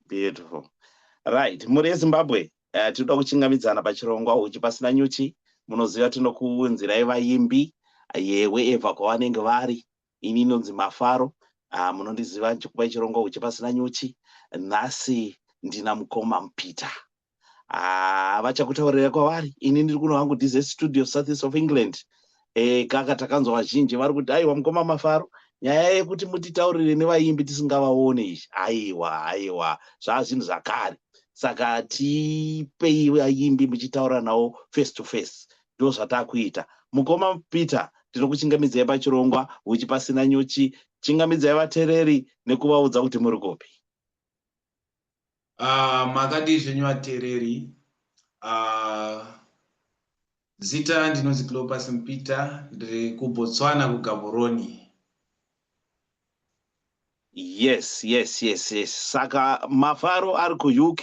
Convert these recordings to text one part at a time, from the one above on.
beautiful right mhuri yezimbabwe uh, tinoda kuchingamidzana pachirongwa uchi pasina nyuchi munoziva tinokuunzirai vaimbi yewe eva kwavanenge vari ini inonzi mafaro uh, munondiziva chikupai chirongwa uchi pasina nyuchi nhasi ndina mukoma mupita haa ah, vachakutaurira kwavari ini ndiri kuno hangu dize studio southeast of england e, kaka takanzwa vazhinji vari kuti aiwa mukoma mafaro nyaya yekuti mutitaurire nevaimbi tisingavaone izvi aiwa aiwa zvaa zvinhu zvakare saka tipei vaimbi muchitaura navo face to face ndo zvatakuita mukoma peter tinokuchingamidzai pachirongwa huchi pasina nyuchi chingamidzai vatereri nekuvaudza kuti muri kupi Ah, makadii zvenyu vateereri ah, zita ndinonzi clopas mpita ndiri kubotswana kugaboroni yes yes yes yes saka mafaro ari kuuk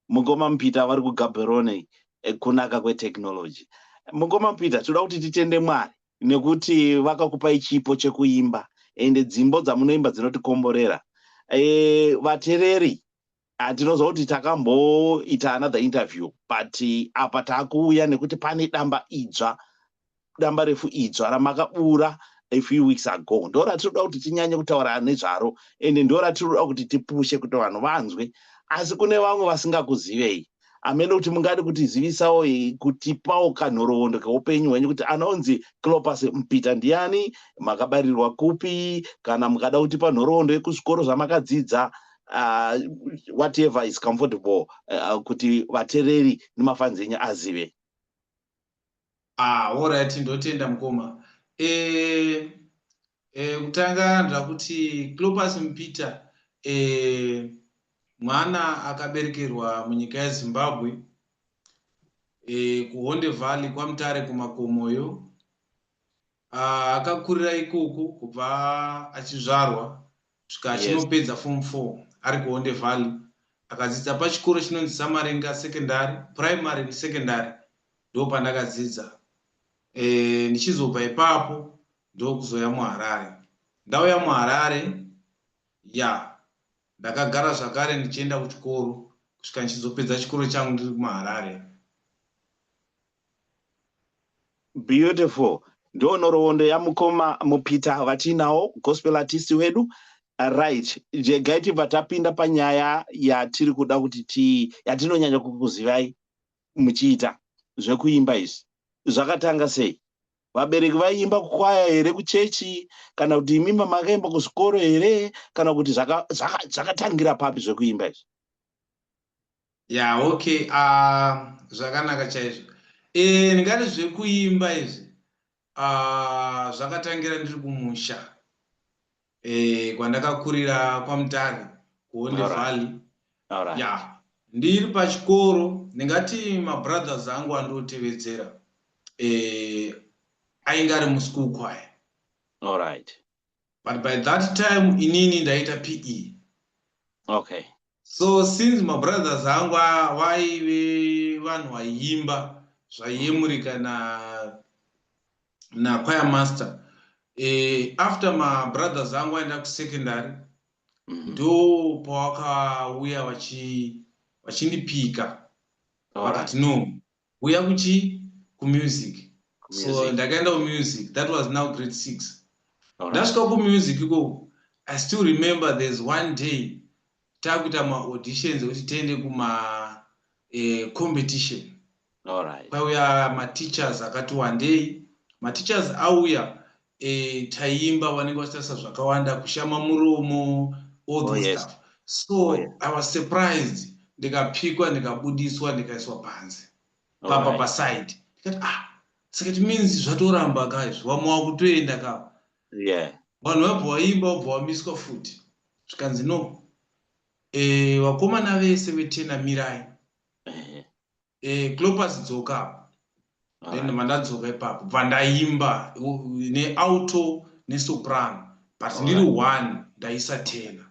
mukoma mpita vari kugaboroni eh, kunaka kwetechnology mukoma mpita tinoda kuti titende mwari nekuti vakakupai chipo chekuimba ende dzimbo dzamunoimba dzinotikomborera e, vatereri hatinoziva kuti takamboita another interview but apa taakuuya nekuti pane damba idzva damba refu idzva ramakabura a few weeks ago ndo ratinoda kuti tinyanye kutaura nezvaro ende ndo ratinoda kuti tipushe kuti vanhu vanzwe asi kune vamwe vasingakuzivei amene kuti mungade kutizivisawo kutipawo kanhoroondo keupenyu hwenyu kuti anonzi clopas mpita ndiani makabarirwa kupi kana mukada kutipa nhoroondo yekuzvikoro zvamakadzidza uh, whatever is comfortable uh, kuti vatereri nemafanzi enyu azive Ah, all right, ndotenda mukoma. Eh, eh, kutanga ndakuti Clopas Mpita eh, mwana akaberekerwa munyika yeZimbabwe eh, kuHonde Valley kwaMutare kumakomoyo Ah, akakurira ikoko kubva achizvarwa svika achinopedza yes. form 4 ari kuonde valley akadzidza pachikoro chinonzi samaringa secondary primary nesecondary ndo pandakadzidza e, ndichizobva ipapo ndokuzouya muharare ndauya muharare ya ndakagara zvakare ndichienda kuchikoro kusvika ndichizopedza chikoro changu ndiri muharare Beautiful. Ndo nhoroondo yamukoma mupita vatiinawo gospel artist wedu. Right. Jegai tibva tapinda panyaya yatiri kuda kuti ti yatinonyanya kukuzivai muchiita zvekuimba izvi. Zvakatanga sei? Vabereki vaiimba kukwaya here kuchechi kana kuti imi mamakaimba kuzvikoro here kana kuti zvakatangira papi zvekuimba izvi? ya okay uh, zvakanaka chaizvo e, ndingati zvekuimba izvi uh, zvakatangira ndiri kumusha e, kwandakakurira kwamutare kuonde valley right. ya ndiri pachikoro ndingati mabrothers angu andiotevedzera e, ainge ari muschool kwaya allright but by that time inini ndaita pe okay so since mabrothers angu vaive vanhu vaiimba zvaiyemurika na nakwaya master e, after mabrothers angu aenda kusecondary mhm. ndo mm -hmm. pawakauya vachindipika vachi vakati no kuuya kuchi kumusic so ndakaenda kumusic that was now grade six ndasvika kumusic ikoku i still remember there's one day takuita maauditions ekuti tiende kuma eh, competition kwaiuya mateachers akati wandei mateachers auya e, taimba vanenge vachitarisa zvakawanda kushama muromo all oh, those oh, yes. stuff so oh, yeah. i was surprised ndikapikwa ndikabudiswa ndikaiswa panze papa right. paside ndikati ah saka ti means zvatoramba ka izvi vamwe wakutoenda ka yeah. vanhu vabva waimba wabva wamiswa futi zvikanzi no e, vakomana vese vetenamirai eh, clopas dzoka apo then right. mandadzoka ipapo bva ndaimba neauto nesoprano but right. ndiri one ndaisa tena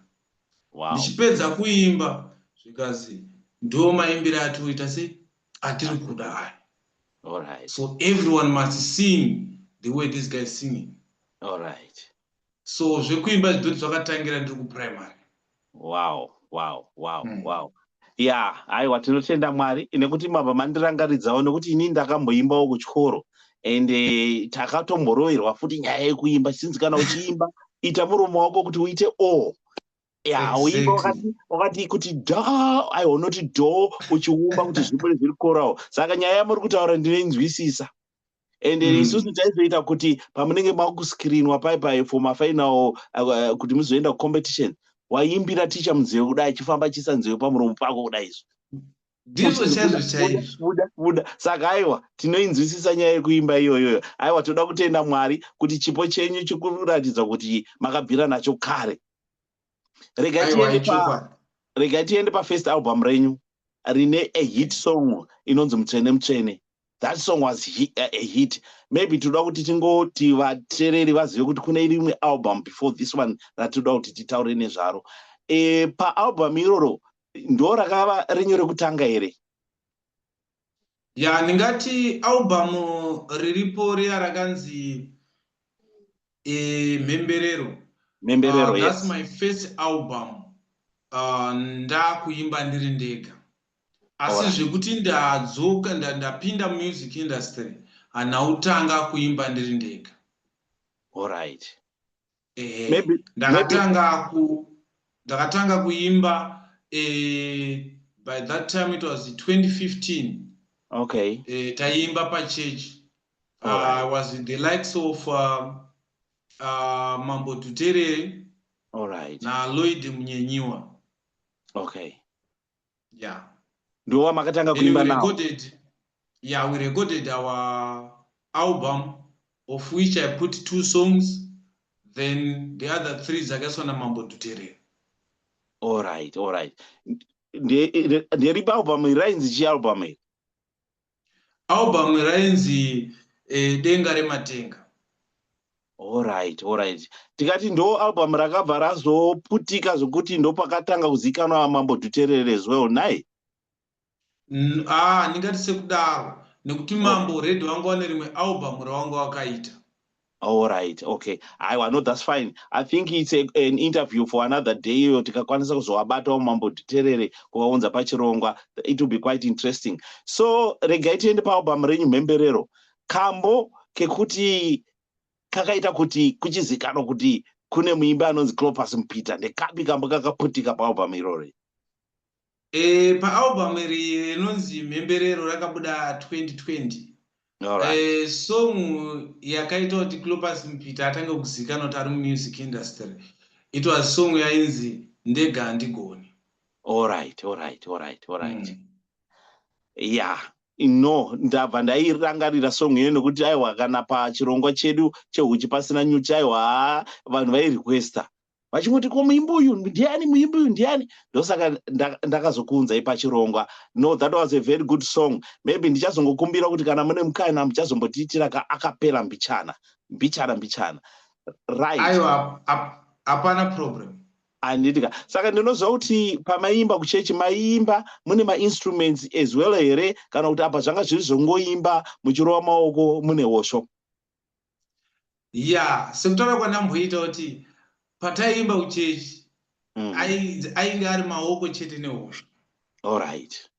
wow. ndichipedza kuimba zvikazi ndo maimbire atoita sei atiri kuda aya right. so everyone must sing the way this guy singing right. so zvekuimba zvidhoti zvakatangira ndiri kuprimary wow wow wow mm. wow ya aiwa tinotenda mwari nekuti mabva mandirangaridzawo nekuti ini ndakamboimbawo kuchikoro and eh, takatomboroverwa futi nyaya yekuimba chinzi kana uchiimba ita muromo wako kuti uite o ya uimba wakati wakati kuti do aiwa unoti do uchiumba kuti zvibude zviri korawo saka nyaya yamuri kutaura ndinoinzwisisa and mm. isusu taizoita kuti pamunenge makuscreenwa pai pai for mafinal uh, kuti muzoenda kucompetition waimbira ticha munzeve kudai achifamba achiisa nzeve pamuromo pako kudai izvo ndizvo chaizvo chaizvobuda saka aiwa tinoinzwisisa nyaya yekuimba iyoyoyo aiwa toda kutenda mwari kuti chipo chenyu chikuratidza kuti makabvira nacho kare rega tiende pa rega tiende pa first album renyu rine a hit song inonzi mutsvene mutsvene that song was hit, uh, a hit maybe toda kuti tingoti vatereri vazive kuti kune rimwe album before this one ratinoda kuti titaure nezvaro e, paalbum iroro ndo rakava renyu rekutanga here ya ndingati album riripo riya rakanzi e, mhemberero mhemberero uh, yes. that's my first album uh, ndakuimba ndiri ndega asi right. zvekuti ndadzoka ndapinda nda music industry hanautanga kuimba ndiri ndega allright Maybe, ndakatanga ku ndakatanga kuimba eh, by that time it was 2015 okay eh, taiimba pachurch uh, ah, right. was the likes of uh, uh, mambo tuterere right. na lloyd munyenyiwa okay yeah ndiwo wamakatanga kuimba nawo recorded yeah we recorded our album of which i put two songs then the other three dzakaiswa namambo dhuterera all right all right nderipa album iri rainzi chi album iri Album rainzi eh, Denga Rematenga. Alright, alright. Tikati ndo album rakabva razoputika zvokuti ndopakatanga kuzikanwa Mambo Dhuterere as well, naye? Ah, ndingati sekudaro nekuti oh. Mambo already vanga vane rimwe album rawanga wakaita. All right, okay. Aiwa, no, that's fine. I think it's a, an interview for another day iyo tikakwanisa kuzovabatawo mambo titerere kuvaunza pachirongwa. It will be quite interesting. So regai tiende paalbum renyu mhemberero. Kambo kekuti kakaita kuti kuchizikanwa kuti kune muimbi anonzi Clopas Mupita ndekapi kambo kakaputika paalbum irori? Eh, paalbum iri rinonzi mhemberero rakabuda 2020 Alright. eh, song yakaita kuti clopas mupita atange kuzivikanwa kuti ari mumusic industry it was song yainzi ndega handigoni Alright, alright, alright, alright. Mm. Yeah. No, ndabva ndairangarira song iyoyo nokuti aiwa kana pachirongwa chedu chehuchi pasina nyuchi aiwa haa, vanhu vairequesta vachingoti ko muimbi uyu ndiani muimbi uyu ndiani ndosaka ndakazokuunzai pachirongwa no that was a very good song maybe ndichazongokumbira kuti kana mune mukana muchazombotiitira ka akapera mbichana mbichana mbichana right aiwa hapana problem handitika saka ndinoziva kuti pamaimba kuchechi maimba mune mainstruments as well here kana kuti apa zvanga zviri zvongoimba muchirova maoko mune hosho ya sekutaura kwandamboita kuti pataiimba kuchechi mm. ainge ari maoko chete nehosha allright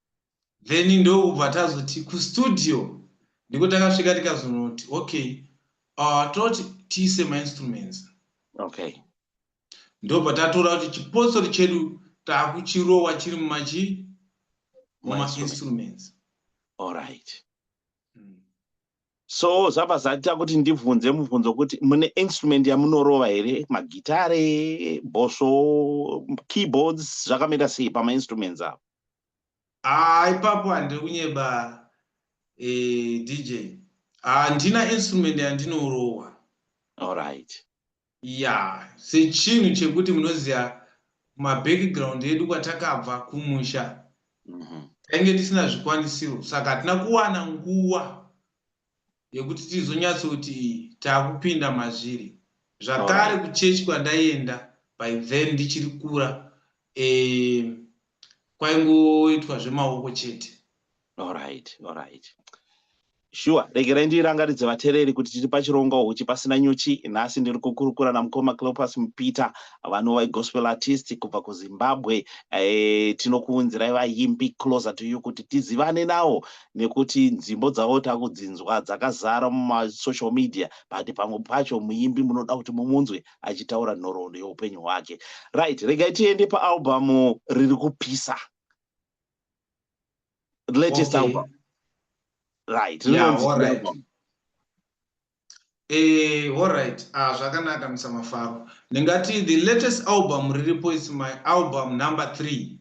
then ndokubva tazoti kustudio ndiko takasvika tikazonoti okay uh, toti tiise mainstruments okay ndobva tatora kuti chipotsori chedu taakuchirowa chiri mumachi mumainstruments allright so zvabva zvaita kuti ndibvunze mubvunzo kuti mune instrument yamunorova here magitare bhosvo keyboards zvakamira sei pamainstruments avo haa ipapo handiri kunyeba e, eh, dj handina instrument yandinorowa allright ya sechinhu chekuti munoziva mabackground edu kwatakabva kumusha mhm. tainge tisina zvikwanisiro saka hatina kuwana nguva yekuti tizonyatsokuti takupinda mazviri zvakare kuchechi kwandaienda by then ndichiri kura e, kwaingoitwa zvemaoko chete alright alright shuwa regerai ndirangaridze vatereri kuti tiri pachironga huchi pasina nyuchi nhasi ndiri kukurukura namukoma cleopas mupita vanova igospel artist kubva kuzimbabwe e, tinokuunzirai vayimbi closer to you kuti tizivane nawo nekuti nzimbo dzavo takudzinzwa dzakazara mumasocial media but pamwe pacho muyimbi munoda kuti mumunzwe achitaura nhoroondo yeupenyu hwake right regai tiende paalbamu riri kupisa latest okay. album right yeah, all right. Eh, all right ah, zvakanaka musamafaro ndingati the latest album riripo is my album number three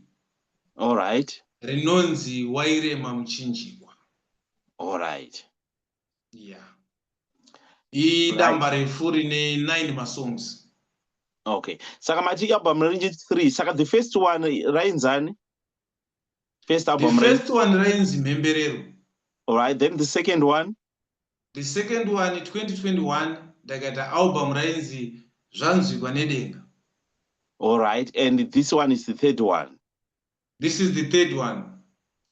all right rinonzi wairema muchinjikwa all right yeah idamba refu rine nine masongs okay saka mati album rinje three saka the first one rainzani first album the first one rainzi mhemberero alright then the second one the second one 2021 ndakaita album rainzi zvanzwikwa nedenga alright and this one is the third one this is the third one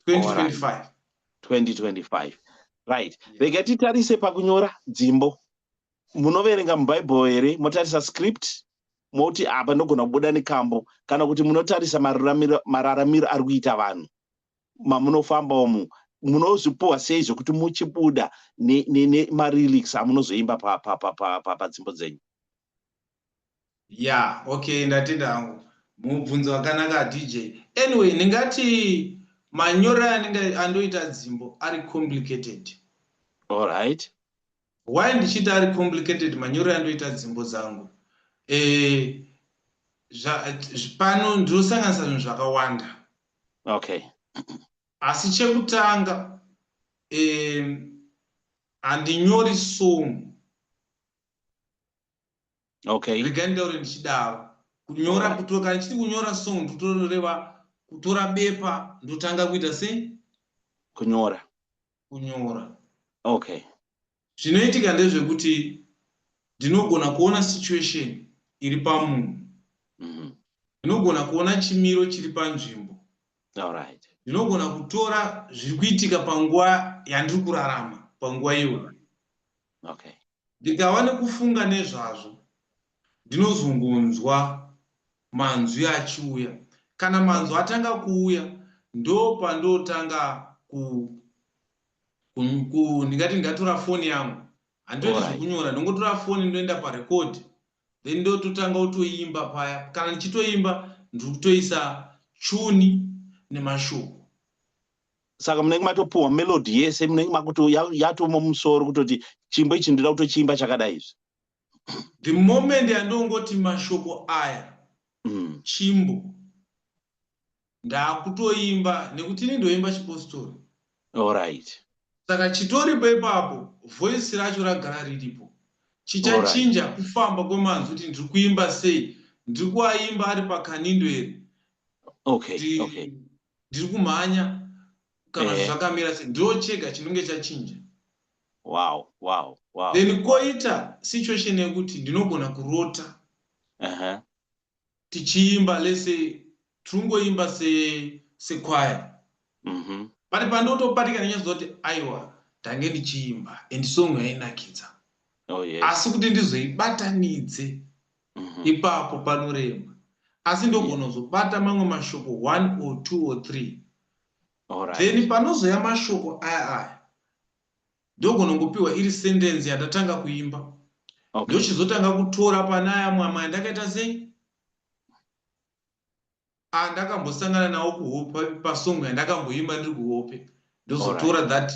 2025 2025 right rega titarise pakunyora dzimbo munoverenga mubhaibheri here motarisa script moti apa ndogona kubuda nekambo kana kuti munotarisa mararamiro ari kuita vanhu mamunofamba umu munozvipuwa sei zvekuti muchibuda nemarilics amunozoimba padzimbo dzenyu ya okay ndatenda hangu mubvunzo wakanaka dj anyway ndingati manyoro anenge andoita dzimbo ari complicated allright why ndichiti ari complicated manyoro andoita dzimbo dzangu e, pano ndinosanganisa zvinhu zvakawanda okay asi chekutanga e, handinyori song okay regai ndaure ndichidaro kunyora kutora kana chiti kunyora song ndotoreva kutora bepa ndotanga kuita sei kunyora kunyora okay zvinoitika ndezvekuti ndinogona kuona situation iri pamunhu mhm. ndinogona kuona chimiro chiri panzvimbo allright ndinogona kutora zviri kuitika panguva yandiri kurarama panguva iyoyo okay. ndikava nekufunga nezvazvo ndinozongonzwa manzwi achiuya kana manzwi atanga kuuya ndopandotanga ku ndingati ndatora foni yangu handitoiti zvekunyora ndongotora foni ndoenda parecord then ndototanga kutoimba paya kana ndichitoimba ndiri kutoisa chuni nemashoko saka munenge matopuhwa melody yese munenge makuto yatomo musoro kutoti chimbo ichi ndinoda kutochiimba chakadai izvi the moment yandongoti mashoko aya mm. chimbo ndakutoimba nekuti ini ndoimba chipostori allright saka chitoripo ipapo voice racho ragara riripo chichachinja right. kufamba kwemanzwi kuti ndiri kuimba sei ndiri kuaimba ari pakanindo here okay, okay ndiri kumhanya kana eh. zvakamira se ndo chega chinonge chachinja wow wow wow then koita situation yekuti ndinogona kurota uh -huh. tichiimba lese tiringoimba se sekwaya mm -hmm. pari pandotopatikana nyaziva kuti aiwa ndange ndichiimba and song yainakidza oh, yes. asi kuti ndizoibatanidze mhm. ipapo panorema asi ndogonozobata mamwe mashoko one or two or three then panozoya mashoko aya aya ndogonongopiwa iri sendensi yandatanga kuimba ndochizotanga kutora pane aya mwamwe andakaita sei andakambosangana nawo kuhope pasong yandakamboimba ndiri kuhope ndozotora that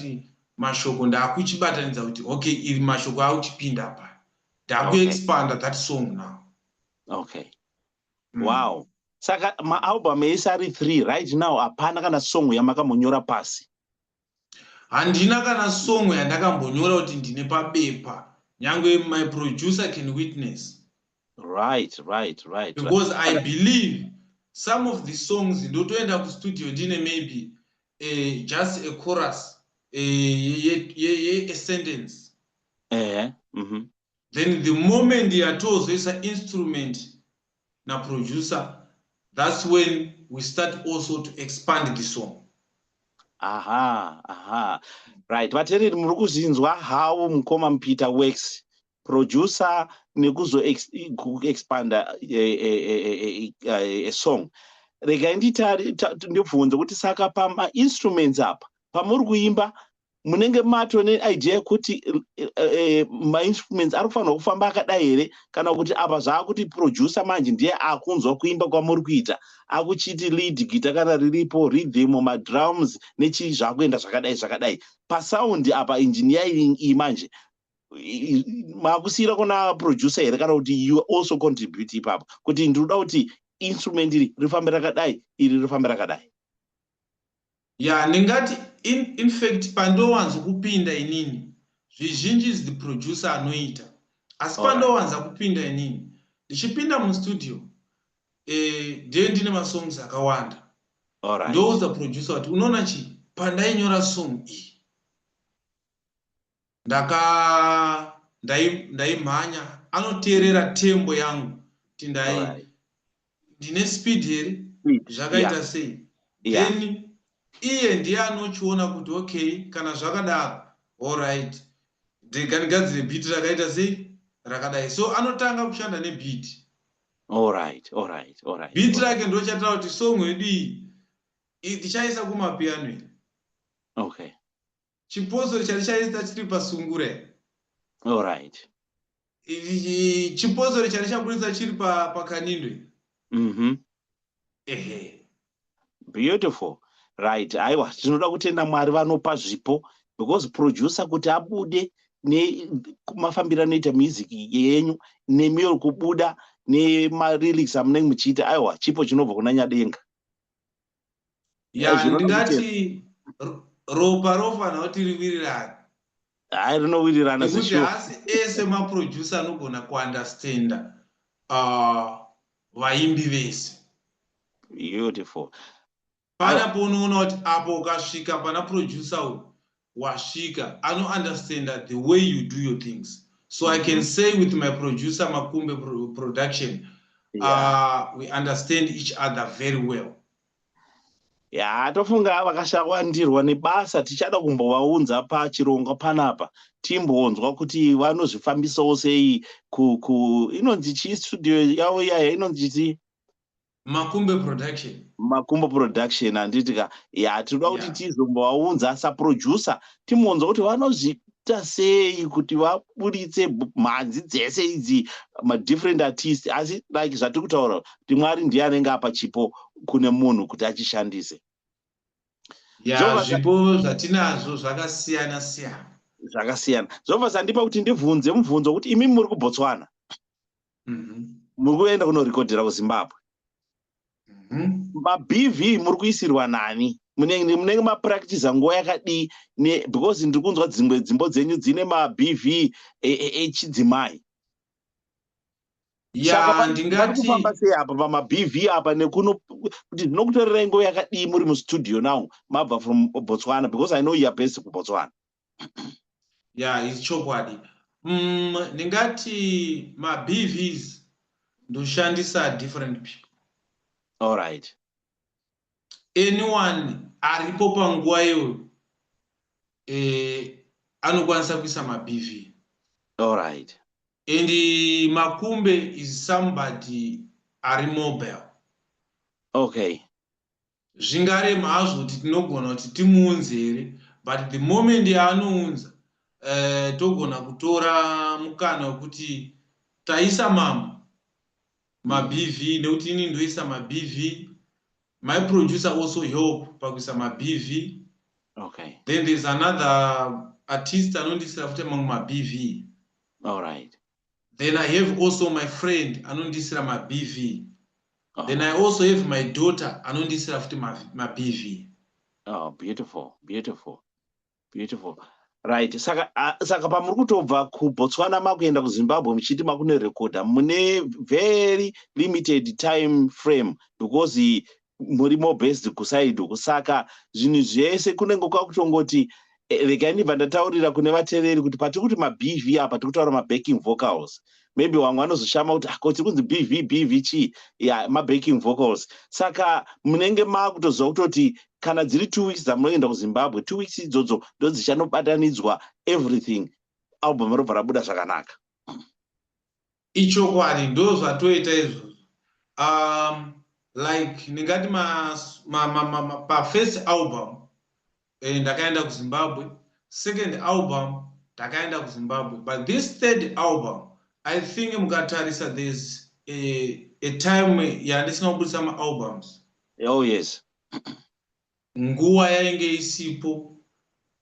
mashoko ndakuchibatanidza kuti okay iri mashoko auchipinda pa ndakuexpanda that song now okay mm. wow saka maalbum ese ari three right now hapana kana song yamakambonyora pasi Handina kana song yandakambonyora kuti ndine pabepa. Nyangwe my producer can witness. Right, right, right. Because I believe some of the songs ndotoenda kustudio ndine maybe uh, just a chorus uh, ye, ye, ye, a sentence. Uh -huh. mm -hmm. Then the moment yatozoisa instrument na producer that's when we start also to expand the song aha aha right vatereri muri kuzvinzwa how mukoma mupita works producer nekuzoexpanda eh, eh, eh, a song regai ndibvunze kuti saka pamainstruments apa pamuri kuimba munenge mato neidea yekuti eh, eh, eh, mainstruments ari kufanirwa kufamba akadai here kana kuti apa zvaakuti producer manje ndiye akunzwa kuimba kwamuri kuita akuchiti lead gita kana riripo rhythmo madrums nechii zvaakuenda zvakadai zvakadai pasaundi apa injiniya iyi manje maakusiyira kuna producer here kana kuti you also contribute ipapo kuti ndiri kuda kuti instrument iri rifambe rakadai iri rifambe rakadai Yeah ndingati in, infact pandowanzo kupinda inini zvizhinji is the producer anoita asi pandowanza kupinda inini ndichipinda mustudio eh, ndiye ndine masongs akawanda right. ndoudza producer kuti unoona chii pandainyora song iyi ndaka ndaimhanya ndai anoteerera tembo yangu kuti ndai right. ndine speed here zvakaita yeah. sei yeah. then iye ndiye anochiona kuti okay kana zvakadaro allright ndiganigadzire biti rakaita sei rakadai so anotanga kushanda nebiti allright allright allright biti rake ndochataura kuti song yedu iyi ndichaisa kumapiano okay chipostori chari chaita chiri pasungure allright chipostori chari chaburitsa chiri pakanindwe mhm ehe beautiful right aiwa tinoda kutenda mwari vanopa zvipo because producer kuti abude nemafambiro anoita music yenyu nemiyo kubuda nemarilics amunenge muchiita aiwa chipo chinobva kuna nyadenga ya ndingati ropa rofanira kuti riwirirane hayi rinowirirana nekuti hasi ese maproducer anogona kuunderstanda uh, vaimbi vese beautiful panapo unoona kuti apo ukasvika pana producer uyu wasvika ano understander the way you do your things so i can mhm. say with my producer makumbe production yeah. uh, we understand each other very well ya tofunga vakashawandirwa nebasa tichada kumbovaunza pachirongwa panapa timbonzwa kuti vanozvifambisawo sei inonzi chii studio yavo iyaya inonzi chii makumbe production makumbo production handiti ka ya tinoda kuti tizombovaunza yeah. saproducer timuunza kuti vanozviita sei kuti vaburitse mhanzi dzese idzi madifferent artist asi like zvatiri kutaura kuti mwari ndiye anenge apa chipo kune munhu kuti achishandise ya zvipo zvatinazvo zvakasiyana siyana zvakasiyana zvobva zandipa kuti ndibvunze mubvunzo kuti imi muri kubotswana mhm. muri kuenda kunorekodhera kuzimbabwe mhm. mabv muri kuisirwa nani munenge mapractice nguva yakadii because ndiri kunzwa dzimwe dzimbo dzenyu dzine mabv echidzimai e, e, e yaandingatifamba sei apa pamabv apa nekuno kuti ndinokutorerai nguva yakadii muri mustudio now mabva from botswana because i know youare based kubotswana ya yeah, ichokwadi mm, ndingati mabvs ndoshandisa different people all right anyone aripo panguva iyoyo eh, anokwanisa kuisa mabv all right and makumbe is somebody ari mobile okay Zvingarema hazvo kuti tinogona kuti timuunze here but the moment yaanounza uh, togona kutora mukana wekuti taisa mambo mabv nekuti ini ndoisa mabv my producer also help pakuisa mabv okay. then there's another artist anondisira futi mamwe mabv alright then i have also my friend anondiisira mabv oh. then i also have my daughter anondiisira futi mabv oh, beautiful beautiful beautiful right saka uh, saka pamuri kutobva kubotswana makuenda kuzimbabwe muchiti makunorekodha mune very limited time frame because muri more based kusaid uku saka zvinhu zvese kunenge kwakutongoti eh, regai ndibva ndataurira kune vateveri kuti patiri kuti mabv apa tiri kutaura mabacking vocals maybe vamwe vanozoshama kuti ako ah, tiri kunzi bv bv chii ya mabacking vocals saka munenge maakutoziva kutoti kana dziri two weeks dzamunoenda kuzimbabwe two weeks idzodzo ndodzichanobatanidzwa everything album robva rabuda zvakanaka Ichokwadi ndozvatoita izvozvo um, like ndingati pafirst album eh, ndakaenda kuzimbabwe second album ndakaenda kuzimbabwe but this third album i think mukatarisa there's a, a time yandisina kubudisa maalbums oh yes nguva yainge isipo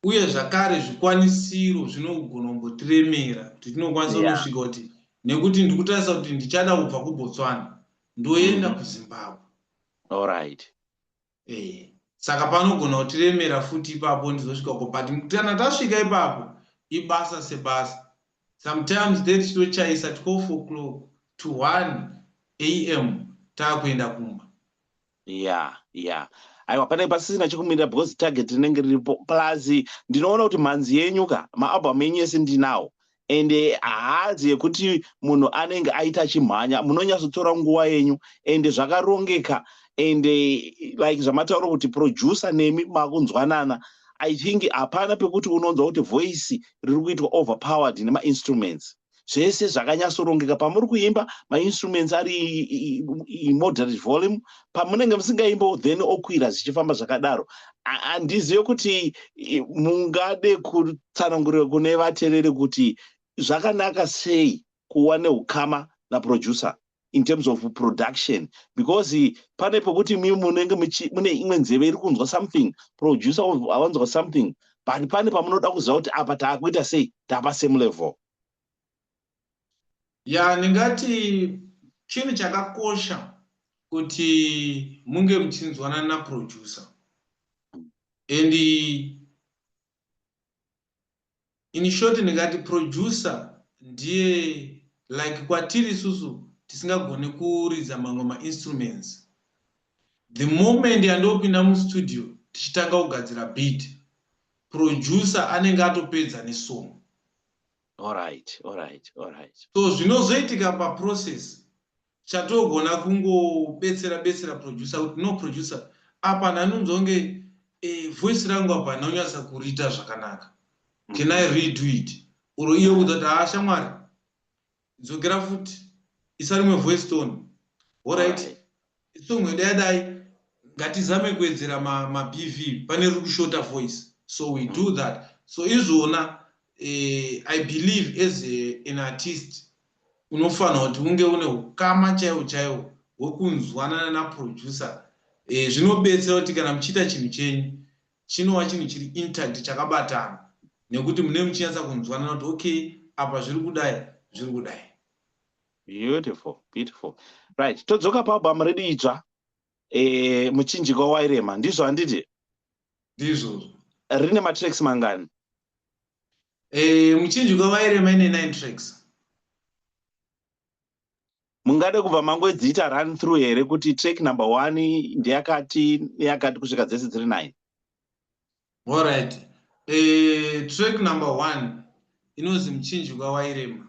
uye zvakare zvikwanisiro zvinogona kumbotiremera kuti tinokwanisa yeah. kusvika kuti nekuti ndikutarisa kuti ndichada kubva kubotswana ndoenda mm. kuzimbabwe allright eh saka panogona kutiremera futi ipapo ndizosvika ko but kana tasvika ipapo ibasa sebasa sometimes then tinochaisa 12 o'clock to 1 am taakuenda kumba yeah yeah aiwa panenge pasisina chekumirira because target rinenge riripo plus ndinoona kuti mhanzi yenyu ka maalbum enyu ese ndinawo and eh, haazi yekuti munhu anenge aita achimhanya munonyatsotora nguva yenyu and zvakarongeka and eh, like zvamataura kuti producer nemi makunzwanana i think hapana pekuti unonzwa kuti voice riri kuitwa overpowered nemainstruments zvese zvakanyatsorongeka pamuri kuimba mainstruments ari moderate volume pamunenge musingaimbo then okwira zvichifamba zvakadaro handizive kuti mungade kutsanangurira kune vatereri kuti zvakanaka sei kuwa neukama naproducer in terms of production because pane pokuti mi munenge mune imwe nzeve iri kunzwa something producer awanzwa something but pane pamunoda kuziva kuti apa taakuita sei tapa same level ya ndingati chinhu chakakosha kuti munge muchinzwanana naproducer and In short ndingati producer ndiye like kwatiri isusu tisingagone kuridza mamwe ma instruments. The moment yandopinda mu studio tichitanga kugadzira beat producer anenge atopedza ne song. Alright, alright, alright. So zvinozoitika pa process Chatogona kungobetsera betsera producer kuti no producer apa ndanonzwa kunge eh, voice rangu apa handina kunyatsa kuriita zvakanaka can i redo it or iye udza kuti haa shamwari dzokera futi isa rimwe voice tone orit song yeda yadai ngatizame kuwedzera mabv ma pane riri kushota voice so we mm. do that so izvona eh, i believe as a, an artist unofanirwa kuti unge une ukama chaiwo chaiwo hwekunzwanana naproducer e, zvinobetsera kuti kana muchiita chinhu chenyu chinova chinhu chiri intact chakabatana nekuti mune muchinyatsa kunzwanana kuti okay apa zviri kudai zviri kudai beautiful beautiful right todzoka paalbum redu itsva e, muchinjikwa wairema ndizvo handiti ndizvozvo rine matracks mangani Eh, muchinjiko vairema ine nine tracks mungade kubva mangodziita run through here kuti track number one ndeyakati neyakati kusvika dzese dziri nine allright eh, track number one inonzi muchinjiko wairema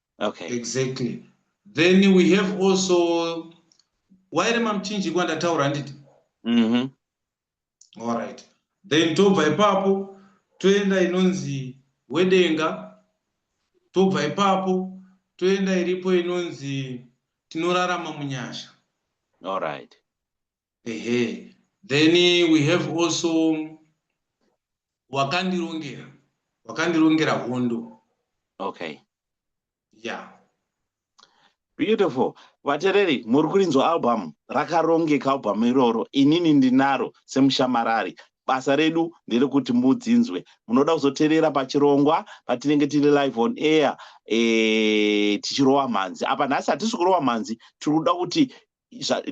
okay exactly then we have also waire mamuchinji kwandataura handiti mm-hmm. all right then tobva ipapo toenda inonzi wedenga tobva ipapo toenda iripo inonzi tinorarama munyasha all right ehe then we have also wakandirongera wakandirongera hondo okay yeah beautiful vatereri muri kurinzwa album rakarongeka album iroro inini ndinaro semushamarari basa redu nderekuti mudzinzwe munoda kuzoterera pachirongwa patinenge tiri live on air e, tichirova mhanzi apa nhasi hatisi kurova mhanzi tiri kuda kuti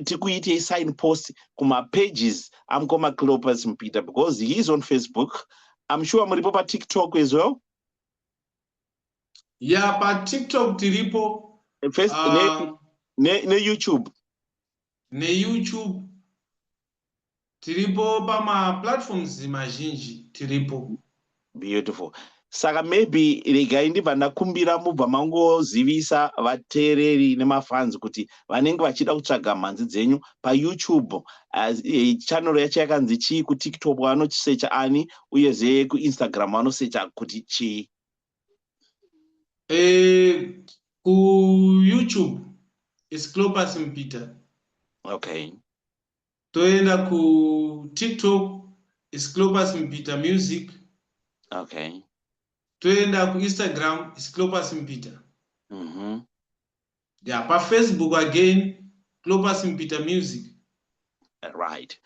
tikuitei sign post kumapages amukoma cleopas mupita because he is on facebook im sure muripo patiktok as well ya yeah, patiktok tiripo neyoutube ne, ne, ne, ne neyoutube Tiripo pama platforms mazhinji tiripo. Beautiful. Saka maybe regai ndibva ndakumbira mubva mangozivisa vateereri nemafanzi kuti vanenge vachida kutsvaga mhanzi dzenyu payoutube eh, channel yacho yakanzi chii kutiktok vanosecha ani uyezve kuinstagram vanosecha kuti chii eh, kuyoutube is clopus mpita okay toenda ku tiktok is clopas mpita music okay toenda ku instagram is clopas mpita mm -hmm. yeah pa facebook again clopas mpita music right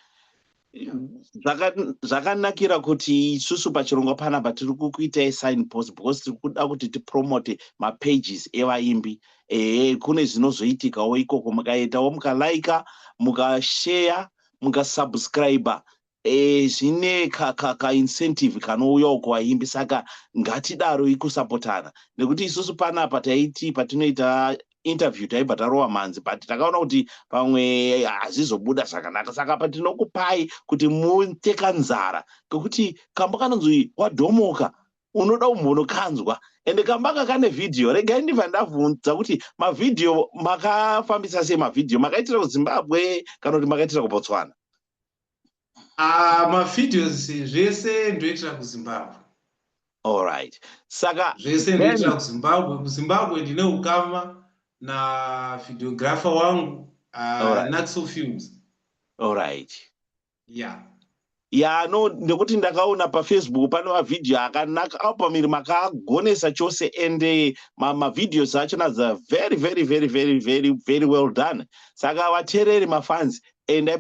zvakanakira kuti isusu pachirongwa panapa tiri kukuitai sign post because tiri kuda kuti tipromote mapages evaimbi ehe kune zvinozoitikawo ikoko mukaitawo mukalaika mukasheya mukasubscriber e, zvine kaincentive ka, ka kanouyawo kuvaimbi saka ngatidaro ikusapotana nekuti isusu panapa taiti patinoita interview taibva tarova mhanzi but takaona kuti pamwe hazvizobuda zvakanaka saka pa tinokupai kuti mutekanzara kekuti kambo kanonzi wadhomoka unoda umbono kanzwa ende kambanga kane vhidhiyo regai ndibva ndavhunza kuti mavhidhiyo makafambisa sei mavhidhiyo makaitira kuzimbabwe kana kuti makaitira kubotswana ah, mavhidhios zvese ndoitira kuzimbabwe allright saka zvese ndoitira kuzimbabwe kuzimbabwe ndine ukama navhidhiographer wangu ah, naxo films allright yeah ya no ndekuti ndakaona pafacebook pane mavhidhiyo akanaka album iri makagonesa chose and eh, mavhidhios acho nadza very very very very very very well done saka vateereri mafans endai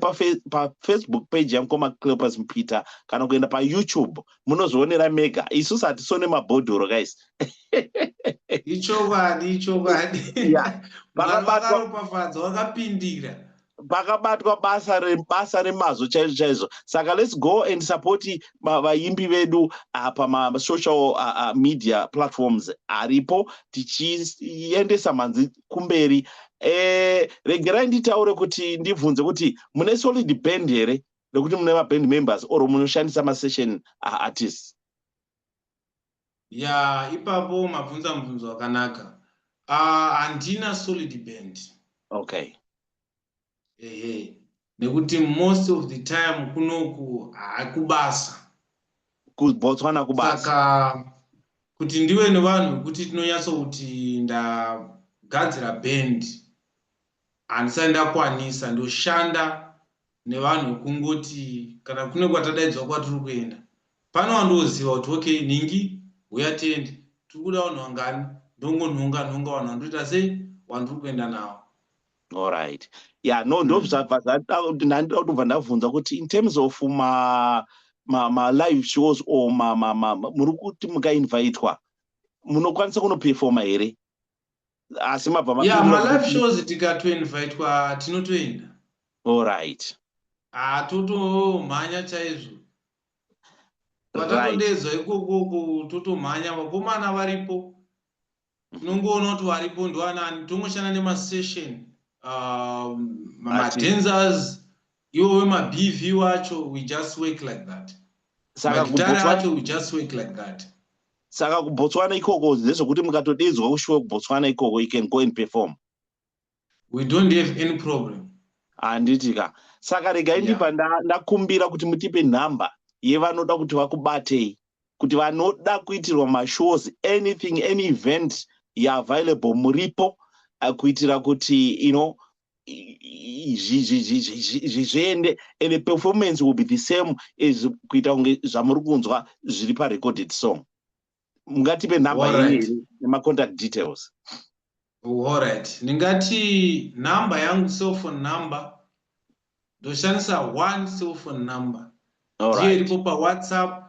pafacebook page yangu komaclepas mpeter kana kuenda payoutube munozvionera mega isusu hatisone mabhodhoro guys ichokwadi ichokwadi vakabatwa vakapindira pakabatwa basa rebasa remazvo chaizvo chaizvo saka let's go and support vaimbi vedu ah, pamasocial ah, ah, media platforms aripo tichiendesa mhanzi kumberi eh, regerai nditaure kuti ndibvunze kuti mune solid band here rekuti mune maband members or munoshandisa masession aartists Yeah, ipapo mabvunza mubvunzo wakanaka. Ah, handina solid band. Okay. Ehe. Nekuti most of the time kunoku hakubasa. Kubotswana kubasa. Saka kuti ndiwe nevanhu vekuti tinonyatso kuti ndagadzira band handisati ndakwanisa ndoshanda nevanhu wekungoti kana kune kwatadaidzwa kwatiri kuenda pano wandooziva kuti okay nhingi huya tiende tiri kuda vanhu vangani ndongonhonga nhonga vanhu vandoita sei wandiri kuenda nawo allright ya no ndozvabva zvandandida kutobva ndabvunza kuti in terms of ma malive ma shows or muri kuti mukainvitwa munokwanisa kunoperfoma here asi mabva ma yeah, ma live shows tikatoinvitwa tinotoenda all right ah totomhanya chaizvo patatodedzwa right. ikokoko totomhanya vakomana varipo tinongoona kuti varipo ndoanani tongoshanda nemasession uh, ah, madenzers Iwo wema BV wacho we just work like that. Saka kubhotswana wacho we just work like that. Saka kubhotswana ikoko ndezvekuti mukatodedzwa kushuwa kubhotswana ikoko you can go and perform. We don't have any problem. Handiti ka. Saka rega indipa yeah. ndakumbira kuti mutipe number yevanoda kuti vakubatei kuti vanoda kuitirwa mashows anything any event yeavailable muripo uh, kuitira kuti you know zviende and the performance will be the same as kuita kunge zvamuri kunzwa zviri parecorded song mungatipe number yenyu nemacontact details allright ndingati number yangu cellphone number ndoshandisa one cellphone number ndiyo iripo pawhatsapp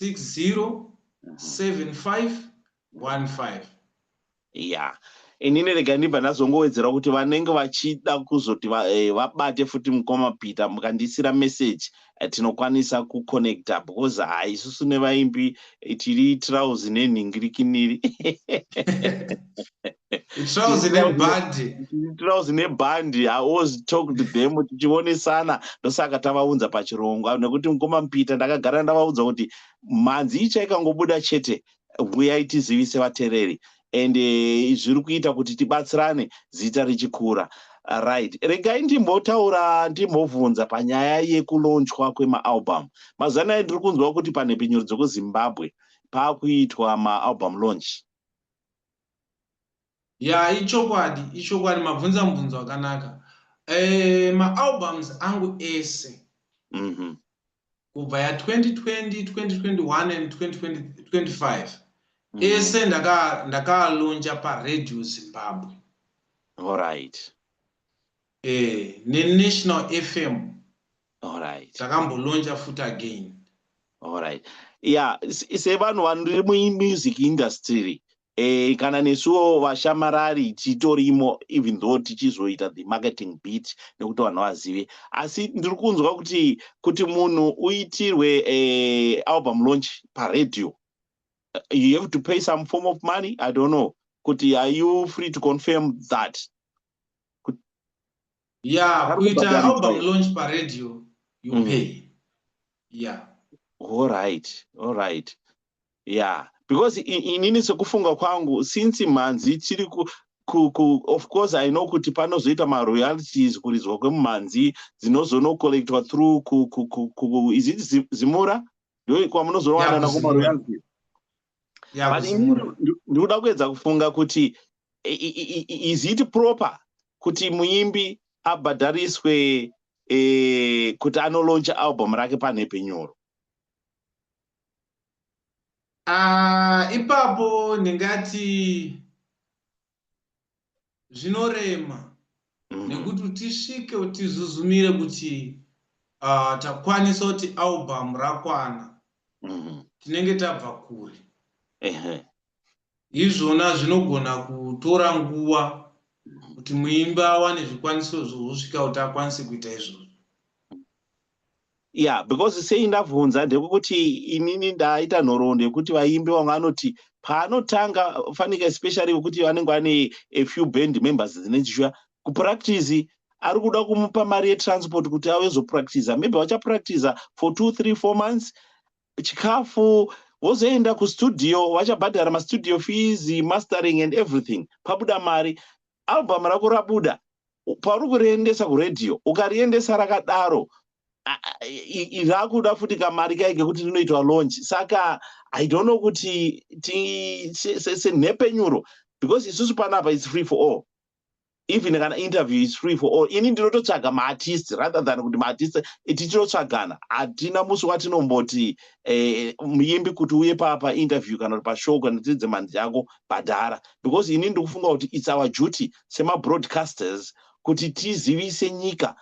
607515 ya inini rega ndibva ndazongowedzera kuti vanenge vachida kuzoti eh, vabate eh, futi mukoma peter mukandiisira message eh, tinokwanisa kuconnecta because ha isusu nevaimbi eh, tiri trousi nenhingirikiniri trouse nebhandi trouse nebhandi i was talked them tichionesana ndosaka tavaunza pachirongwa nekuti mukoma mupita ndakagara ndavaudza kuti mhanzi icha ikangobuda chete huyai tizivise vatereri and eh, zviri kuita kuti tibatsirane zita richikura right regai ndimbotaura ndimbovhunza panyaya yekulonchwa kwemaalbum mazuva anaya ndiri kunzwa kuti panhepfenyuro dzekuzimbabwe paakuitwa maalbum launch ya ichokwadi ichokwadi mabvunza mubvunzo wakanaka e, maalbums angu ese mm -hmm. kubva ya 2020 2021 and 2025 mm -hmm. ese ndakalonja ndaka paredio zimbabwe allright Eh ne National FM. Alright. Takambo launcha futi again. Alright. Yeah, se vanhu vanri mu music industry. Eh kana nesuwo vashamarari titorimo even though tichizoita the marketing bit nekuti vanhu vazive. Asi ndiri kunzwa kuti kuti munhu uitirwe eh album launch pa radio. Eh, you have to pay some form of money, I don't know. Kuti are you free to confirm that? ya kuita album launch paradio you mm. pay ya allright allright ya because inini sekufunga kwangu since mhanzi chiri of course i know kuti panozoita maroyalties kuridzwa kwemumhanzi dzinozonocollectwa through is it zimura ndo kwamunozonowanana kumaroyalties ndikuda kuedza kufunga kuti is it proper kuti muimbi abhadhariswe eh, kuti anolauncha album rake panhepe nyoro ah, ipapo ndingati zvinorema mm. nekuti utisvike utizuzumire kuti uh, takwanisa kuti album rakwana mm. tinenge tabva kure izvona zvinogona kutora nguva kuti muimbi awane zvikwanisiro zvokusvika kuti akwanise kuita izvozvo yeah because sei ndabvunza ndekuti inini ndaita nhoroondo yekuti vaimbi vamwe vanoti paanotanga fanika especially vekuti vanenge vane a few band members dzine chishuya kupractice ari kuda kumupa mari yetransport kuti ave zopractiza maybe vachapractiza for two three four months chikafu vozoenda kustudio vachabhadhara mastudio fees mastering and everything pabuda mari album rako rabuda pauri kuriendesa kuradio ukariendesa rakadaro rakuda futi kamari kai kekuti rinoitwa launch saka i don't know kuti senhepenyuro because isusu panapa its free for all even kana interview is free for all ini ndinototsvaga maartist rather than kuti maartist tichinotsvagana hatina musi watinomboti eh, muimbi kuti uye papa interview kana kuti pashow kana tiri dzemhanzi yako bhadhara because ini ndiri kufunga kuti its our duty semabroadcasters kuti tizivise nyika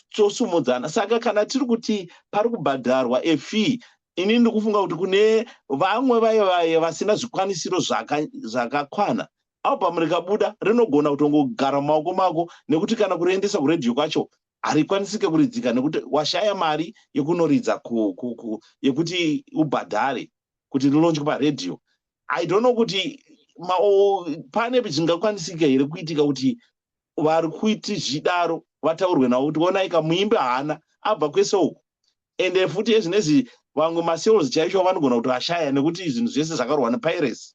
tosumudzana saka kana tiri kuti pari kubhadharwa efee ini ndiri kufunga kuti kune vamwe vaye vaye vasina zvikwanisiro zvakakwana zaka album rikabuda rinogona kutongogara mumaoko mako nekuti kana kuriendesa kuredio kwacho harikwanisike kuridzika nekuti washaya mari yekunoridza yekuti ubhadhare kuti rilonjwe paredhiyo i don't know kuti pane zvingakwanisika here kuitika kuti vari kuiti zvidaro vataurwe navo kuti onaika muimbi haana abva kwese uku ende futi ezvinezvi vamwe masales chaicho vanogona kuti vashaya nekuti zvinhu zvese zvakarwa nepiracy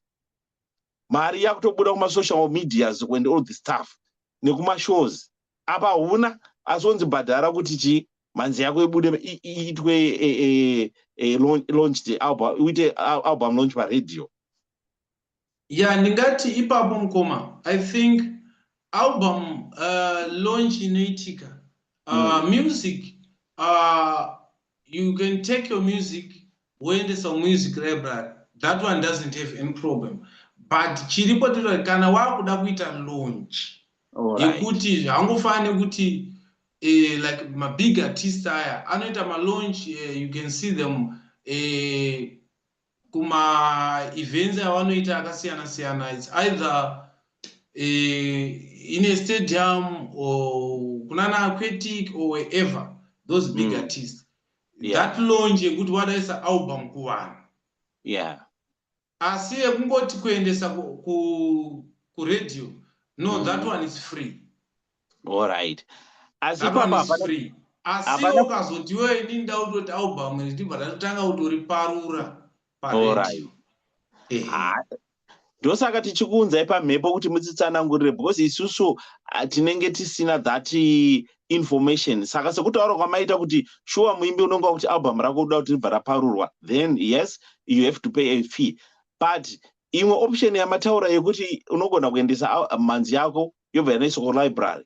mari yakutobuda kumasocial medias and all the stuff nekumashows apa huna asi onzi bhadhara kuti chii mhanzi yako ibude iitwe e, e, e, launch the album uite album launch paradio ya ndingati ipapo mukoma i think Album uh, launch inoitika uh, mm. music uh, you can take your music woendesa music library that one doesn't have any problem but chiripo tiri kana wakuda kuita launch yekuti right. hangofani nekuti eh, like mabig artist aya anoita malaunch eh, you can see them eh, kuma events avanoita akasiyana siyana its either uh, in a stadium or kunana aquatic or wherever those big mm. artists yeah. that longe yekuti wadaisa album kuvanhu yeah. asi yekungoti kuendesa kuradio ku, ku no mm. that one is free Alright. Asi Apa papa is free. Asi Hapana- ukazoti iwe ini ndautoti album iri ndibva ndatotanga kutoriparura Alright. paredio. Ehe. Ah, ndosaka tichikuunzai pamhepo kuti mutitsanangurire because isusu ah, tinenge tisina that eh, information saka sekutaura kwamaita kuti shuwa muimbi unenge wakuti album rako unoda kuti ribva raparurwa then yes you have to pay a fee but imwe option yamataura yekuti unogona kuendesa al- mhanzi yako yobva yanoiswa kulibrary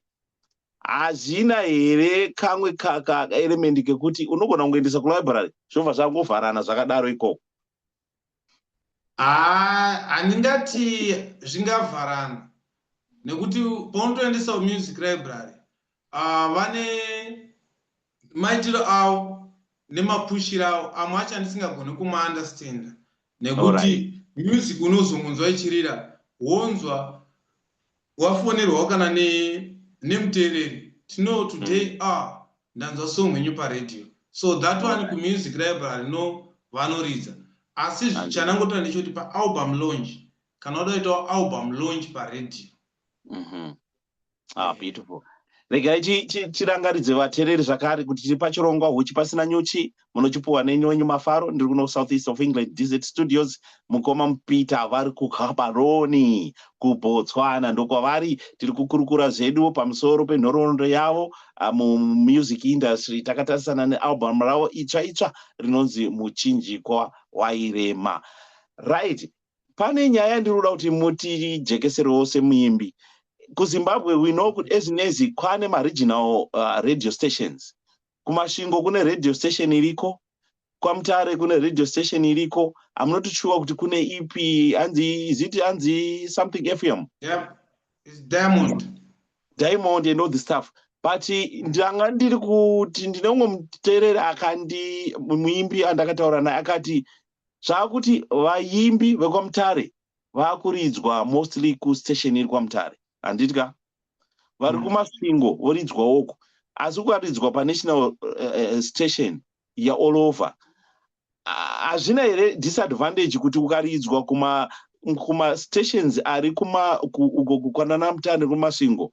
hazvina here kamwe kaeremendi kekuti unogona kungoendesa kulibrary zvobva zvangovharana zvakadaro ikoko handingati zvingavharana nekuti paunotoendesa muzic library uh, vane maitiro avo nemapushiro avo amwe acho andisingagone kumaunderstanda nekuti right. music unozomunzwa ichirira wonzwa wafonerwawo kana nemuteereri ne tino today mm. ah ndanzwa song yenyu paradio so that one right. kumusic library no vanoridza asi chanangotoa ndechekuti paalbum launch kana uda kuitawo album launch paradio mm -hmm. ah, beautiful regai tirangaridze vatereri zvakare kuti tiri pachirongwa huchi pasina nyuchi munochipuwa nenyonyi mafaro ndiri kuno south east of england dz studios mukoma mupita vari kukabaroni kubotswana ndokwavari tiri kukurukura zvedu pamusoro penhoroondo yavo ah, mumusic industry takatarisana nealbum ravo itsva itsva rinonzi muchinjikwa wairema right pane nyaya yandinoda kuti mutijekesere wose muimbi kuzimbabwe we know kuti ezinezi kwane maregional uh, radio stations kumashingo kune radio station iriko kwamutare kune radio station iriko amunotichuwa kuti kune ipi anzi iziti anzi something fm yeah. diamond diamond and all the stuff but ndanga ndiri kuti ndine umwe muteereri akandi muimbi andakataura naye akati zvaakuti vayimbi vekwamutare vakuridzwa mostly kustation iri kwamutare handiti ka vari mm. kumasvingo voridzwawoko asi ukaridzwa panational uh, station yeall over hazvina uh, here disadvantage kuti ukaridzwa kuma kumastations ari kwanana mutare nekumasvingo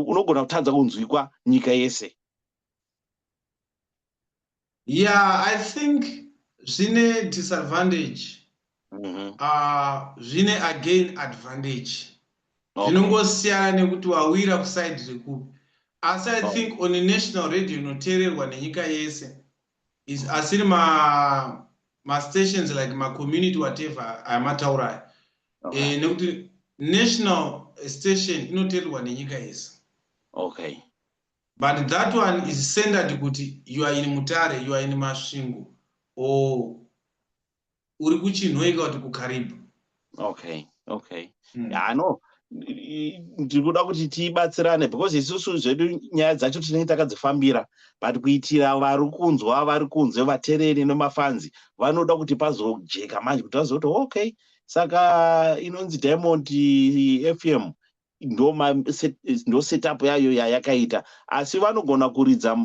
unogona kutadza kunzwikwa nyika yese yeah i think zvine disadvantage mm -hmm. uh, zvine again advantage zvinongosiyana okay. nekuti wawira kusaidi rekupi asi i oh. think on a national radio inoteererwa nenyika yese is asiri ma mastations like macommunity whatever ayamataurayo okay. e, eh, nekuti national station inoteererwa nenyika yese okay But that one is centered kuti you are in Mutare, you are in Masvingo or uri kuchinhoika kuti kuKaribu. Okay, okay. Mm. Yeah, I know ndiri kuda kuti tibatsirane because isusu zvedu nyaya dzacho tinenge takadzifambira but kuitira vari kunzwa vari kunze vatereri nemafanzi vanoda kuti pazojeka manje kuti vazokuti okay saka inonzi diamond fm ndo ndo setup yayo yayakaita asi vanogona kuridza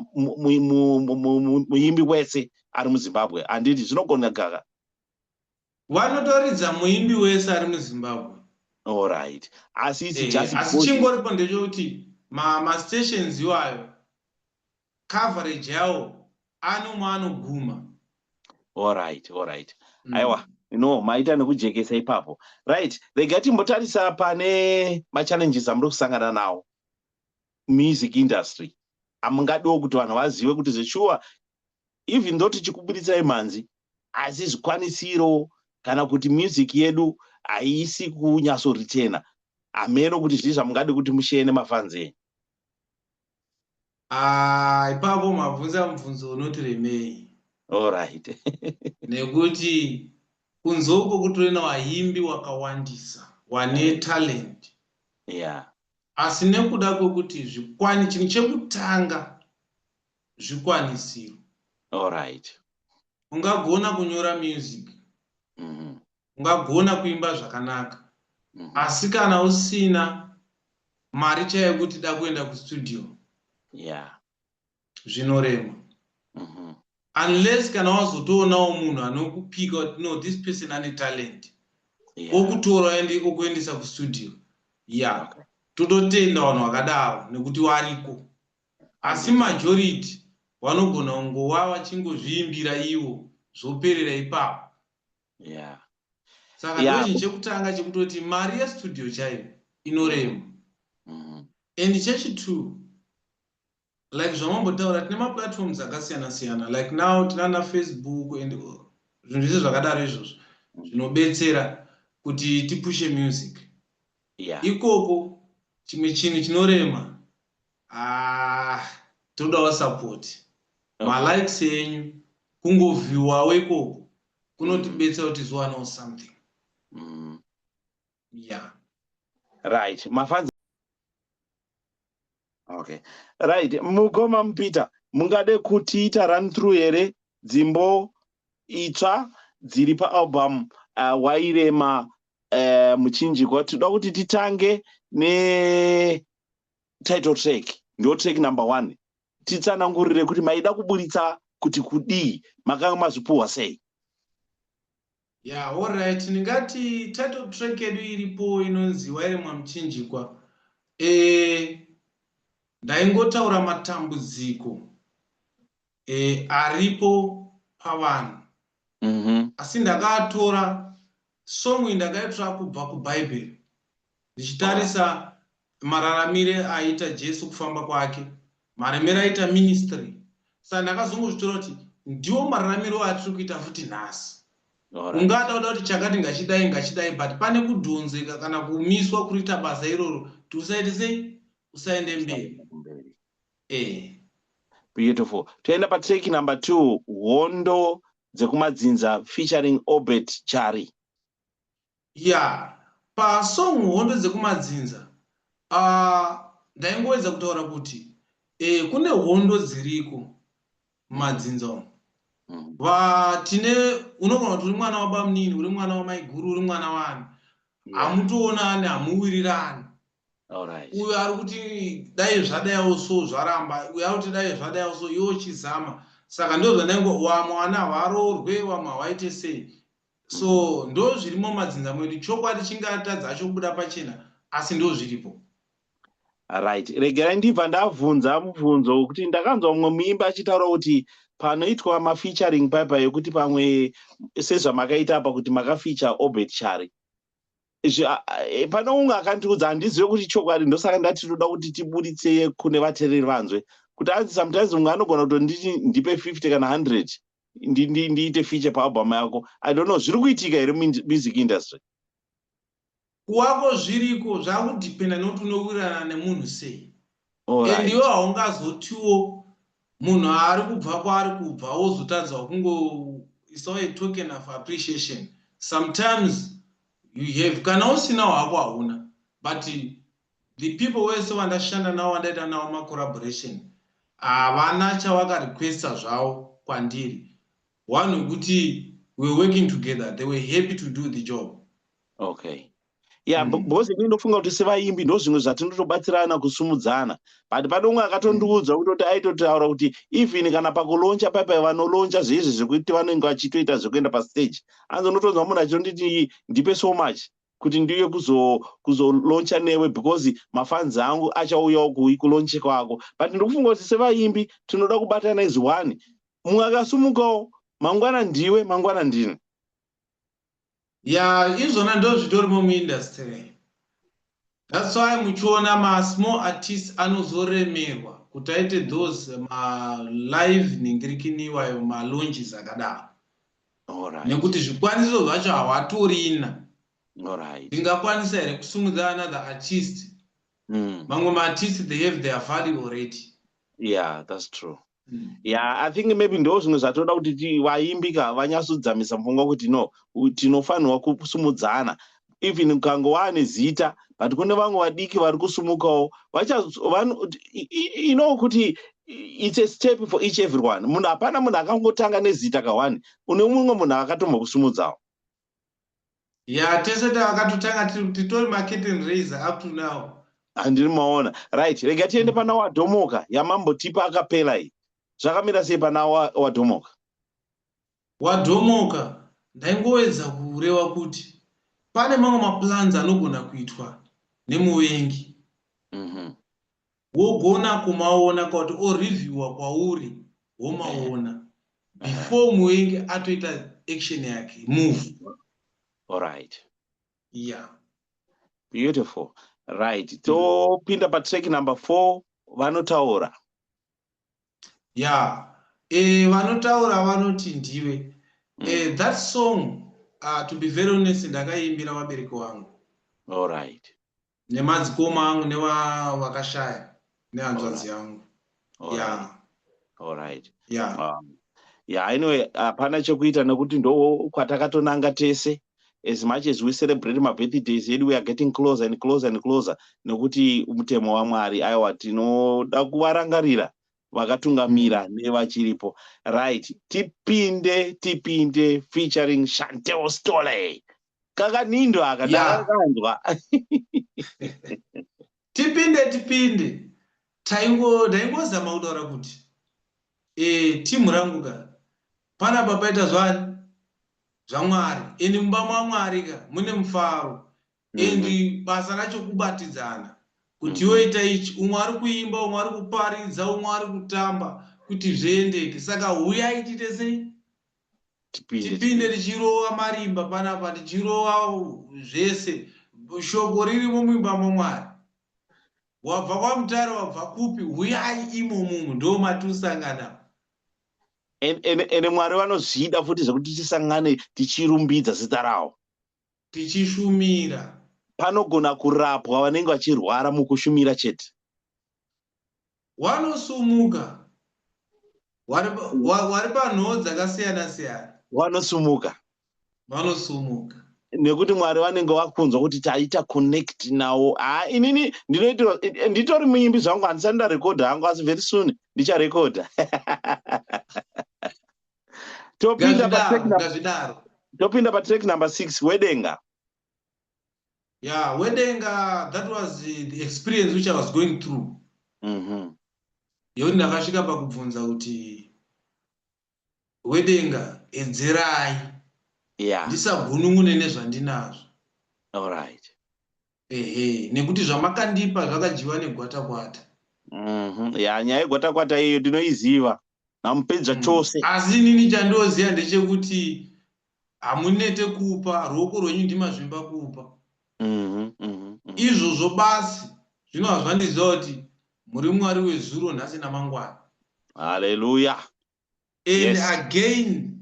muimbi wese ari muzimbabwe handiti zvinogona gaga vanotoridza muimbi wese ari muzimbabwe allright asi isi eh, just asi chingoripo ndechekuti mastations iwayo coverage yawo anomwe anoguma orit orit mm. aiwa you know maita nekujekesa ipapo right rega timbotarisa pane machallenges amuri kusangana nawo music industry amungadiwo kuti vanhu vazive kuti zveshuwa even though tichikubuditsai mhanzi asi zvikwanisiro kana kuti music yedu haisi kunyatsoritena hameno kuti zvii zvamungadi kuti musheye nemafanzi enyu Ah, ipapo mabvunza mubvunzo unoti remei allright nekuti kunze uko kutorina vaimbi wakawandisa wane talent yeah asi nekuda kwekuti zvikwani chinhu chekutanga zvikwanisiro allright ungagona kunyora music mm -hmm. ungagona kuimba zvakanaka mm. asi kana usina mari chaiyo kuti da kuenda kustudio yeah. zvinorema mm -hmm. unless kana wazotoonawo munhu anokupika kuti no this person ane talent yeah. okutora ende okuendesa kustudio ya yeah. okay. tototenda vanhu vakadaro nekuti variko asi majority vanogona kungova vachingozviimbira ivo zvoperera ipapo yeah saka yeah. ndochinhu chekutanga chekutoti mari yestudio chaiyo inorema mm -hmm. and chechitwo like zvamambotaura tine maplatforms akasiyana siyana like now tinana facebook and zvinhu zvese zvakadaro izvozvo zvinobetsera kuti tipushe music yeah. ikoko chimwe chinhu chinorema ah, todawo support okay. malikes enyu kungovhiwawo ikoko kunotibetsera kuti tizowanao something mm. yeah right mafanzi okay right mukoma mupeter mungade kutiita run through here dzimbo itsva dziri paalbum uh, wairema uh, muchinjikwa tinoda kuti titange ne title track ndo track number one titsanangurire kuti maida kuburitsa kuti kudii makanga mazvipuhwa sei ya yeah, allright ndingati title track yedu iripo inonzi wairemwa muchinjikwa e, ndaingotaura matambudziko e, aripo pavanhu mm -hmm. asi ndakaatora song ndakaitora kubva kubhaibheri ndichitarisa mararamire aita jesu kufamba kwake maremere aita ministry saka ndakazongozvitora kuti ndiwo mararamiro atiri kuita futi nhasi ungada kuda kuti chakati ngachidai ngachidai but pane kudhonzeka kana kumiswa kuriita basa iroro kuti usaite sei usaende mberi ehe beautiful toenda patrack number two hondo dzekumadzinza featuring obert chari ya yeah. pasong hondo dzekumadzinza uh, ndaingoedza kutaura kuti eh, kune hondo dziriko mumadzinza umu mm. vatine unogona kuti uri mwana wabamunini uri mwana wamaiguru uri mwana wani hamutoonani hamuwirirani Alright. uyo ari kuti dai zvadaiwo so zvaramba uyo ari kuti dai zvadaiwo so iwo chizama saka ndo zvandaingo wamwe wana havaroorwe wamwe hawaite sei so mm-hmm. ndo zvirimo madzinza mwedu chokwadi chingatadza chobuda pachena asi ndo zviripo right regerai ndibva ndabvunza mubvunzo wekuti ndakanzwa mumwe muimbi achitaura kuti panoitwa mafeaturing paipa yekuti pamwe sezvamakaita apa kuti makafeature obert chari Eh, pane unge akandiudza handizive kuti chokwadi ndosaka ndati toda kuti tiburitse kune vatereri vanzwe kuti anzi sometimes mumwe anogona kutonditi ndipe 50 kana 100 ndiite feature paalbum yako i don't know zviri kuitika here music industry kuwako zviriko zvakudependa nokuti unowirirana nemunhu sei and iwe haungazotiwo munhu ari kubva kwaari kubva wozotanzwa kungoisawo a token of appreciation sometimes you have kana usina hwako hauna but the people wese vandashanda navo vandaita navo macollaboration havana chavakarequesta zvavo kwandiri one wekuti we're working together they were happy to do the job okay ya yeah, mm. because ini ndofunga kuti sevaimbi ndo zvimwe zvatinotobatsirana kusumudzana but pane umwe akatondiudza mm. kutoti aitotaura kuti even kana pakuloncha paipai vanoloncha zveizvi zvekuti vanenge vachitoita zvekuenda pastage anzi unotonzwa munhu achitonditi ndipe so much kuti ndiuye kuzoloncha kuzo newe because mafanzi angu achauyawo kulonche kwako but ndikufunga kuti sevaimbi tinoda kubatana izi one mumwe akasumukawo mangwana ndiwe mangwana ndini ya izvona ndozvitorimo muindustry thats why muchiona masmall artist anozoremerwa kuti aite those malive ningirikini iwayo malonges akadaro nekuti zvikwaniso zvacho hawatorina ndingakwanisa here kusumudza another artist mm. mamwe maartist they have their value already yeah that's true yeah i think maybe ndo zvimwe zvatoda kuti vaimbi ka vanyatsodzamisa pfungwa kuti no tinofanirwa kusumudzana even ukange waane zita but kune vamwe vadiki vari kusumukawo ino kuti it's a step for each everyone munhu hapana munhu akangotanga nezita kahwani une mumwe munhu akatombokusumudzawo ya tese takatotanga titori maketten raiser up to now handiri maona right rega tiende pana wadhomoka yamambo tipa akapela iyi zvakamira sei pana wadhomoka wadhomoka ndaingoedza kureva kuti pane mamwe maplans anogona kuitwa nemuvengi mhm. wogona kumaona kwakuti oreviewer kwauri womaona before muenge atoita action yake move alright yeah beautiful right topinda patrack number four vanotaura ya yeah. e, vanotaura vanoti ndiwe mm. e, that song uh, to be very honest ndakaiimbira vabereki wangu allright nemadzikoma angu nevakashaya nehanzvadzi yangu ya allright ya um, ya anyway hapana chekuita nekuti ndo kwatakatonanga tese as much as we celebrate mabirthdays edu weare getting closer and closer and closer nekuti mutemo wamwari aiwa tinoda kuvarangarira vakatungamira mm. nevachiripo right tipinde tipinde featuring chantel stoley kakanindo aka ndakakanzwa tipinde tipinde taingo ndaingozama kutaura kuti e, timu rangu ka pana papaita zvani zvamwari endi mumba mwamwari ka mune mufaro endi mm -hmm. basa racho kubatidzana kuti mhm. yoita ichi umwe ari kuimba umwe ari kuparidza umwe ari kutamba kuti zviendeke saka huyai tiite sei tipinde tichirova marimba panapa tichirova zvese shoko ririmo muimba mamwari wabva kwamutare wabva kupi huyai imo munhu ndo matiusangana ende mwari vanozvida futi zvekuti tisangane tichirumbidza zita rawo tichishumira panogona kurapwa vanenge vachirwara mukushumira chete Wanosumuka. Wari, wa, wari panhoo dzakasiyana siyana. Wanosumuka. Wanosumuka. nekuti mwari vanenge vakunzwa kuti taita connect nawo haa inini ndinoitirwa nditori muimbi zvangu handisati ndarekodha hangu asi very soon ndicharekodha topinda patopinda patrack number six wedenga yeah wedenga that was the experience which i was going through mm -hmm. yoni ndakasvika pakubvunza kuti wedenga edzerai yeah. ndisagunun'une nezvandinazvo allright ehe nekuti zvamakandipa zvakadyiwa negwata kwata mm -hmm. ya nyaya yegwata kwata iyo ndinoiziva namupedza mm. chose asi inini chandioziva ndechekuti Hamunete kupa, ruoko rwenyu ndimazvimba kupa. Izvozvo basi, zvino hazvandiziva kuti muri Mwari wezuro, nhasi namangwana. Haleluya! And again,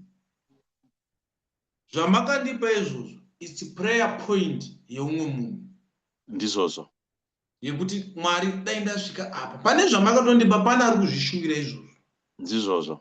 zvamakandipa izvozvo, it's prayer point yeumwe munhu. Ndizvozvo. Yekuti Mwari dai ndasvika apa. Pane zvamakatondipa, pane ari kuzvishuvira izvozvo. Ndizvozvo.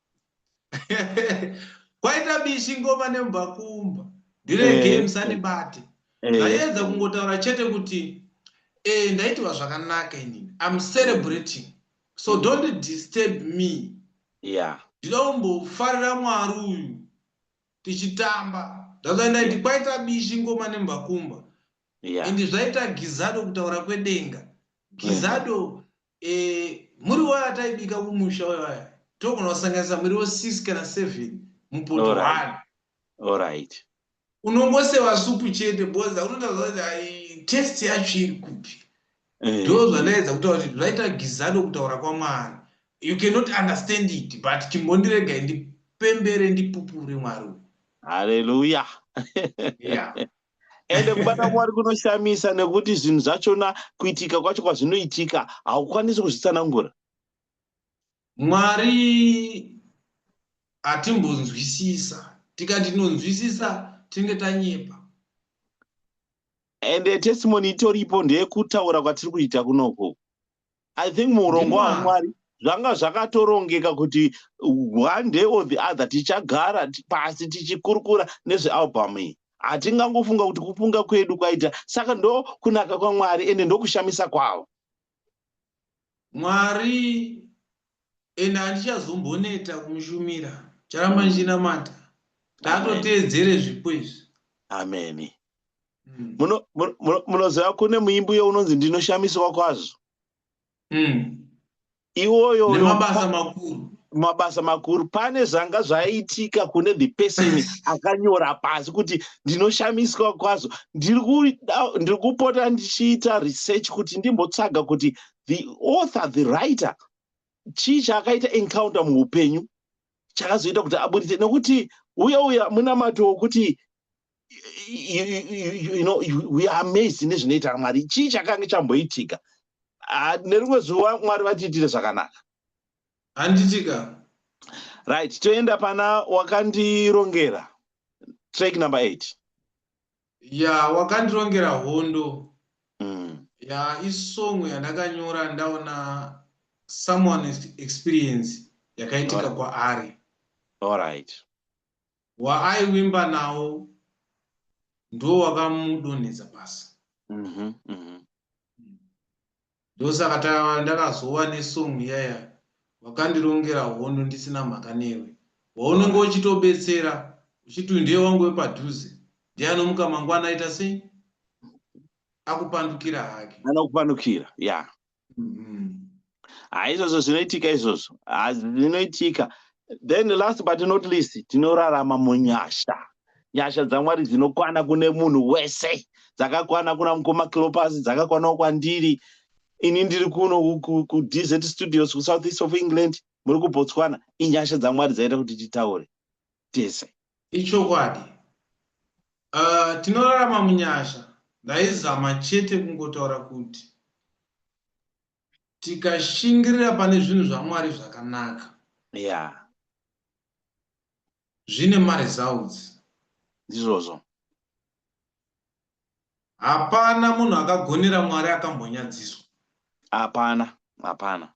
kwaita bishi ngoma nembakumba ndire eh, game sanibate eh. ndaiedza kungotaura chete kuti eh, ndaitiva zvakanaka inini im celebrating so mm. don't disturb me ndida kumbofarira mwari uyu tichitamba ndazvaindaiti kwaita bishi ngoma nembakumba ende zvaita gizado kutaura kwedenga gizado Eh, muri waya taibika kumusha waya. Togona kusanganisa muriwo 6 kana 7 mupoto All right. one. All right. Unongoseva supu chete because unotaura kuti ai test yacho iri kupi. Eh, Ndo zvandaedza kutaura kuti zvaita gizado kutaura kwaMwari. You cannot understand it but chimbondirega ndipembere ndipupure Mwari. uyu. Hallelujah. Yeah. ende kubata mwari kunoshamisa nekuti zvinhu zvachona kuitika kwacho kwazvinoitika haukwanisi kuzvitsanangura mwari hatimbonzwisisa tikati tinonzwisisa tinenge tanyepa ende testimony itoripo ndeyekutaura kwatiri kuita kunoko i think muurongwa wamwari zvanga zvakatorongeka kuti one day or the other tichagara pasi tichikurukura nezvealbum iyi hatingangofunga kuti kufunga kwedu kwaita saka ndo kunaka kwamwari ende ndokushamisa kwavo mwari and handichazomboneta kumushumira charamba ndichinamata ndatoteedzere zvipo izvi ameni mm. munoziva mm. kune muimbi uyo unonzi ndinoshamiswa kwazvo mm. iwoyo mabasa makuru mabasa makuru pane zvanga zvaiitika kune the person akanyora pasi kuti ndinoshamiswa kwazvo ndiri kupota ndichiita research kuti ndimbotsvaga kuti the author the writer chii chaakaita encounter muupenyu chakazoita kuti aburitse nekuti uya uya munamato wokuti you know we are amazed nezvinoita mwari chii chakange chamboitika ah, nerimwe zuva mwari vatiitire zvakanaka handitika right toenda pana wakandirongera track number eight ya wakandirongera hondo mm. ya isong yandakanyora ndaona someone experience yakaitika right. kwaari alright waaivimba nawo ndo wakamudonhedza pasi mm -hmm, mm -hmm. Ndosaka ta ndakazowa ne song iyaya wakandirongera hondo ndisina mhaka newe. Waunenge uchitobetsera uchiti uyu ndiye wangu wepadhuze ndiye anomuka mangwana aita sei? Akupandukira hake. Anokupandukira, yeah. Mhm. Haa izvozvo zvinoitika izvozvo. Haa zvinoitika. Then last but not least tinorarama munyasha. nyasha dzamwari dzinokwana kune munhu wese dzakakwana kuna mukoma clopas dzakakwanawo kwandiri ini ndiri kuno kudz studios kusouth east of england muri kubotswana inyasha dzamwari dzaita kuti titaure tese ichokwadi uh, tinorarama munyasha ndaizama chete kungotaura kuti tikashingirira pane zvinhu zvamwari zvakanaka yeah. zvine maresults ndizvozvo hapana munhu akagonera mwari akambonyadziswa hapana hapana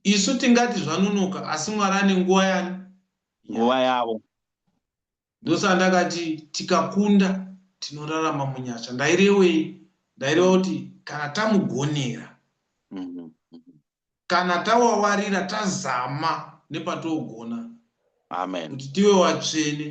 isu tingati zvanunuka asi mwari ane nguva yani nguva yavo ndosaa ndakati tikakunda tinorarama munyasha ndairewei ndaireva kuti kana tamugonera mhm, mhm. kana tawawarira tazama nepatogona kuti tive watsvene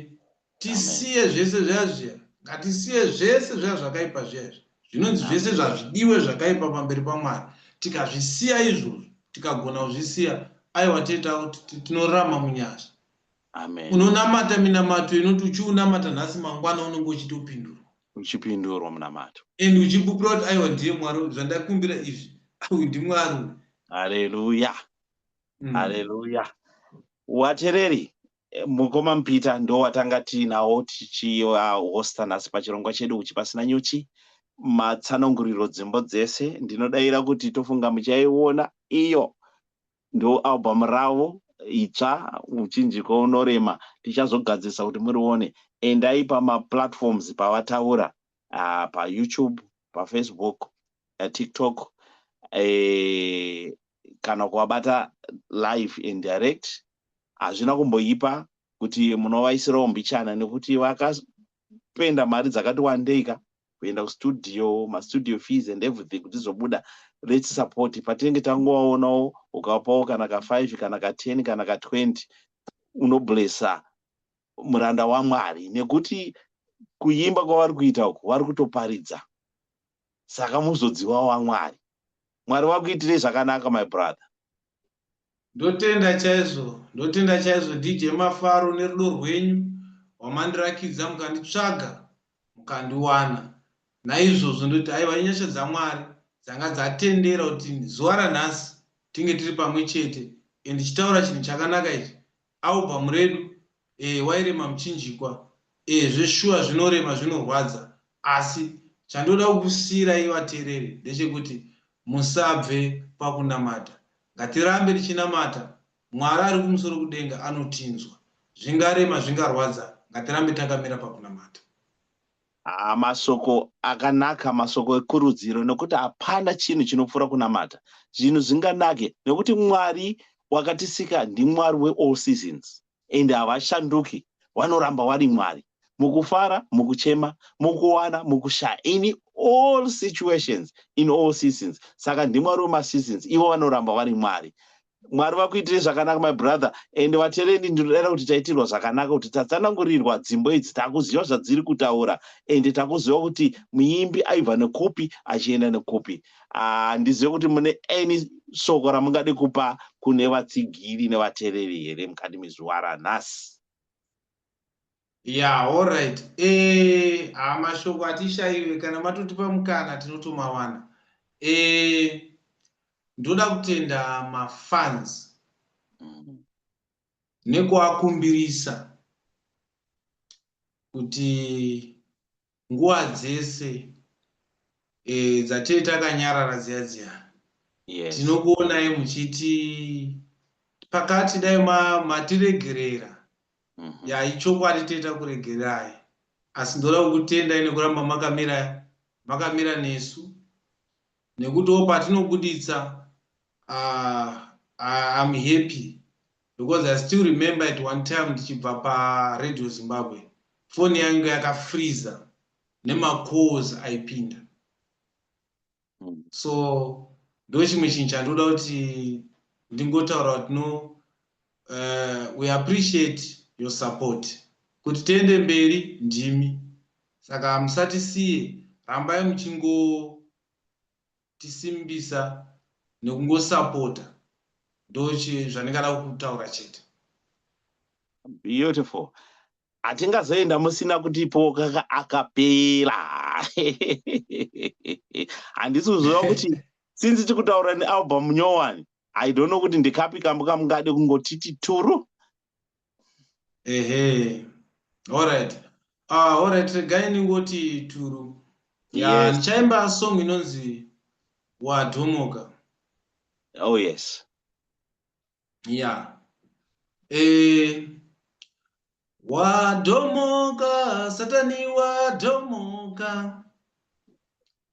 tisiye zvese zviya zviya ngatisiye zvese zviya zvakaipa zviya izvi zvinonzi zvese zvazvidiwe zvakaipa pamberi pamwari tikazvisiya izvozvo tikagona kuzvisiya aiwa teta tinorama munyasha unonamata minamato inoti uchiunamata nhasi mangwana unenge uchitopindurwa uchipindurwa munamato. And uchipupura kuti aiwa ndiye Mwari uyu zvandakumbira izvi uyu ndiMwari uyu. Haleluya. Mm. Haleluya. Watereri mukoma Mpita ndowatanga tiinawo tichihosta uh, nhasi pachirongwa chedu uchi pasina nyuchi matsananguriro dzimbo dzese ndinodaira kuti tofunga muchaiona iyo ndo album ravo itsva uchinjiko unorema tichazogadzirisa kuti murione endai pamaplatforms pavataura uh, payoutube pafacebook uh, tiktok uh, kana kuvabata live and direct hazvina kumboipa kuti munovaisirawo mbichana nekuti kuspenda mari dzakati wandei ka kuenda kustudio mastudio fees and everything kuti zvobuda lets support patinenge tangovaonawo ukapawo kana ka5 kana ka10 kana ka20 unoblessa muranda wamwari nekuti kuimba kwavari kuita uku vari kutoparidza Saka muzodziwa waMwari. Mwari vakuitirei zvakanaka my brother. Ndotenda chaizvo ndotenda chaizvo DJ Mafaro nerudo rwenyu rwamandirakidza mukanditsvaga mukandiwana naizvozvo ndoti aiwa inyasha dzaMwari dzanga dzatendera kuti zuva ranhasi tinge tiri pamwe chete and chitaura chinhu chakanaka ichi Album redu eh wairema muchinjikwa eh zveshuwa zvinorema zvinorwadza asi chandoda kukusiirai vateereri ndechekuti musabve pakunamata ngatirambe tichinamata Mwari ari kumusoro kudenga anotinzwa zvingarema zvingarwadza ngatirambe takamira pakunamata. Haa masoko akanaka masoko ekurudziro nokuti hapana chinhu chinopfuura kunamata zvinhu zvinganake nokuti mwari wakatisika ndimwari weall seasons and havashanduki wanoramba wari mwari mukufara mukuchema mukuwana mukushaya in all situations in all seasons saka ndimwari wemaseasons ivo vanoramba vari mwari mwari vakuitire zvakanaka my brother and vaterendi ndinodaira kuti taitirwa zvakanaka kuti tatsanangurirwa dzimbo idzi takuziva zvadziri kutaura and takuziva kuti muimbi aibva nekupi achienda nekupi handizive ah, kuti mune any soko ramungade kupa kune vatsigiri nevatereri here mukati mezuva ranhasi ya allright eh, haa mashoko hatishaive kana matotipa mukana tinotomawana eh, ndoda kutenda mafans mm. nekuakumbirisa kuti nguva dzese e, dzatee takanyarara dziya dziya yes. tinokuonai muchiti pakati dai matiregerera ma mm -hmm. ya ichokwadi toita kuregererai asi ndoda kukutendai nekuramba makamira makamira nesu nekutiwo patinobuditsa uh, uh, I'm happy because I still remember at one time ndichibva paRadio Zimbabwe foni yangu yakafreeza nemacalls aipinda hmm. so ndochimwe chinhu chandoda kuti ndingotaura kuti no uh, we appreciate your support kuti tiende mberi ndimi saka musatisiye rambai muchingotisimbisa nekungosapota ndochi zvandingada kutaura chete beautiful hatingazoenda musina kutipo kaka akapera handisi kuziva kuti since tikutaura nealbum nyowani i don't know kuti ndikapi kambo kamungade kungotiti turu ehe allright uh, ah, allright regai ndingoti turu ya ndichaimba yes. song inonzi wadhomoka oh yes ya yeah. eh, wadhomoka satani wadhomoka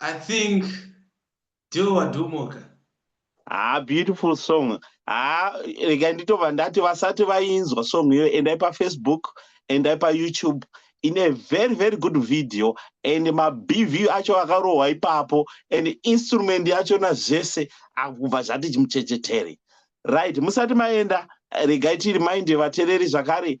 I think deal wadhumoka. Ah, beautiful song. Ah, rega nditova ndati vasati vainzwa song iyo endai paFacebook, endai paYouTube in a very very good video and mabv acho akarohwa ipapo and instrument yachona zvese akubva zvati chimuchechetere right musati maenda regai tiri mainde vatereri zvakare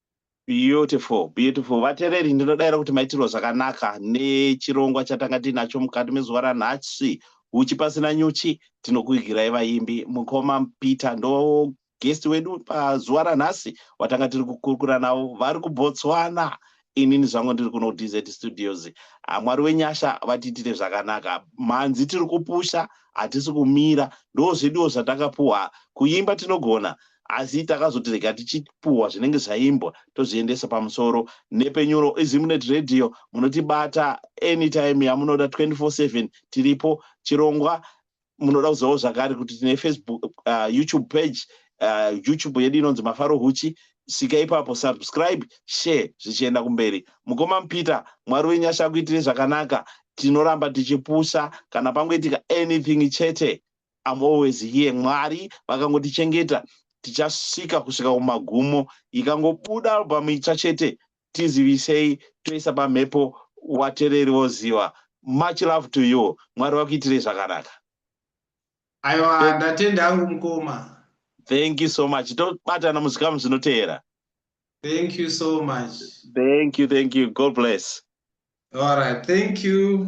Beautiful, beautiful. Vatereri ndinodaira kuti maitirwa zvakanaka nechirongwa chatanga tiinacho mukati mezuva ranhasi. Huchi pasina nyuchi tinokuigirai vaimbi. Mukoma Peter ndo guest wedu pazuva ranhasi watanga tiri kukurukura navo vari kuBotswana. Inini zvangu ndiri kuno DZ Studios. Ah, Mwari wenyasha vatiitire zvakanaka. Mhanzi tiri kupusha hatisi kumira. Ndozveduwo zvatakapuwa. Kuimba tinogona. asi takazoti rega tichipuhwa zvinenge zvaimbwa tozviendesa pamusoro nepenyuro izimnet radio munotibata anytime yamunoda 24/7 tiripo chirongwa munoda kuzivawo zvakare kuti tine facebook uh, youtube page uh, youtube yedu inonzi mafaro huchi svika ipapo subscribe share zvichienda kumberi mukoma mupeter mwari wenyasha akuitire zvakanaka tinoramba tichipusa kana pangoitika anything chete I'm always here Mwari vakangotichengeta tichasvika kusvika kumagumo ikangobuda album itsva chete tizivisei toisa pamhepo watereri voziva much love to you Mwari vakuitirei zvakanaka aiwa ndatenda hangu mukoma thank you so much tobatana muzvikamu zvinoteera thank you so much thank you thank you god bless all right thank you